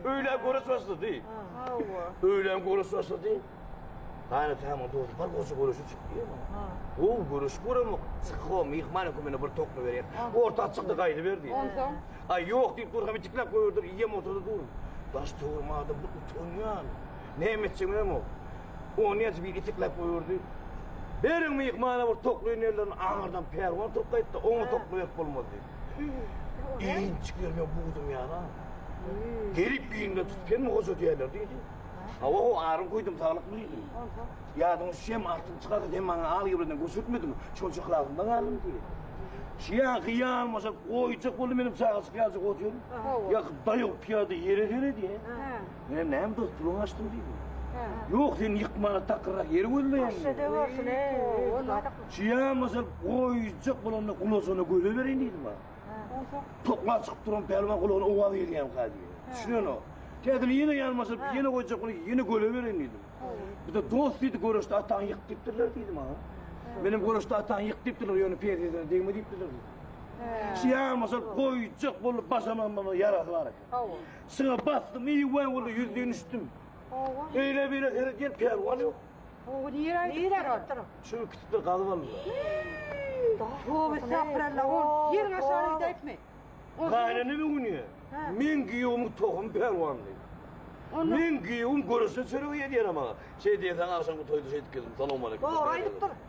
Öýlän görüş başlady. Hawa. Öýlän görüş başlady. Hany tamam dost, bir goşa görüşi çykýar. Ha. O görüş göremok. Çykyp o mehman hökümine bir tokla berýär. Orta çykdy gaýdy berdi. Ondan Ay ýok diýip dur, hem içiklap gördür, iýem oturdy dur. Daş towrmada bir utanýan. Näme etjegini hem o. O näçe bir itiklap gördü. Beriň mehmana bir tokly ýerlerini aňyrdan pärwan turup gaýtdy, oňa tokla berip bolmaz diýip. Iýin çykyr men buýdum ýana. Gelip iýinde tutup hem goja diýerler diýdi. Hawa o aryn guýdum saglyk diýdi. Ýadyň şem artyp çykar hem maňa al ýewreden göçürtmediň. Şol çyklarynda galdym diýdi. Şiýan hyýan bolsa goýjak boldy meniň çaga çykýança goýjak. Ýa daýyp ýa-da ýere seredi. Menem näme dostlugyňy açdyň diýdim. Ýok, sen ýykmana takyrrak ýer gözleýäň. Şeýle de bolsun, eý. Çyýamasa, goýjak bolanda gulasyna göze bereýin diýdim ha. Tokla çykyp duran pälwan gulagyna owaz gelýän kady. Düşünen o. Täzini ýene ýalmasa, ýene goýjak bolup, ýene göle bereýin diýdim. Bize dost diýdi, göreşde ataň ýyk diýipdirler diýdim ha. Menem göreşde ataň ýyk diýipdirler, ýöne perzine degme diýipdirler. Çyýamasa, goýjak bolup başamam, ýarasy bar. Hawa. Şuna basdym, iý we uly ýüz dünüşdim. Hawa. Öýle bile serediň pälwan ýok. Hawa, nire aýdypdyr? Şu ikisi galyp aldy. Hawa, sapralla ol. Ýer aşagy gideýipmi? Gaýnany bu gün ýa. Men giýewimiň tohumy pälwandy. Men giýewim görüşe çöregi ýedýär ama. Şeýdýän saňa agşamky toýda şeýdip geldim. Salam aleykum. Dogry aýdypdyr.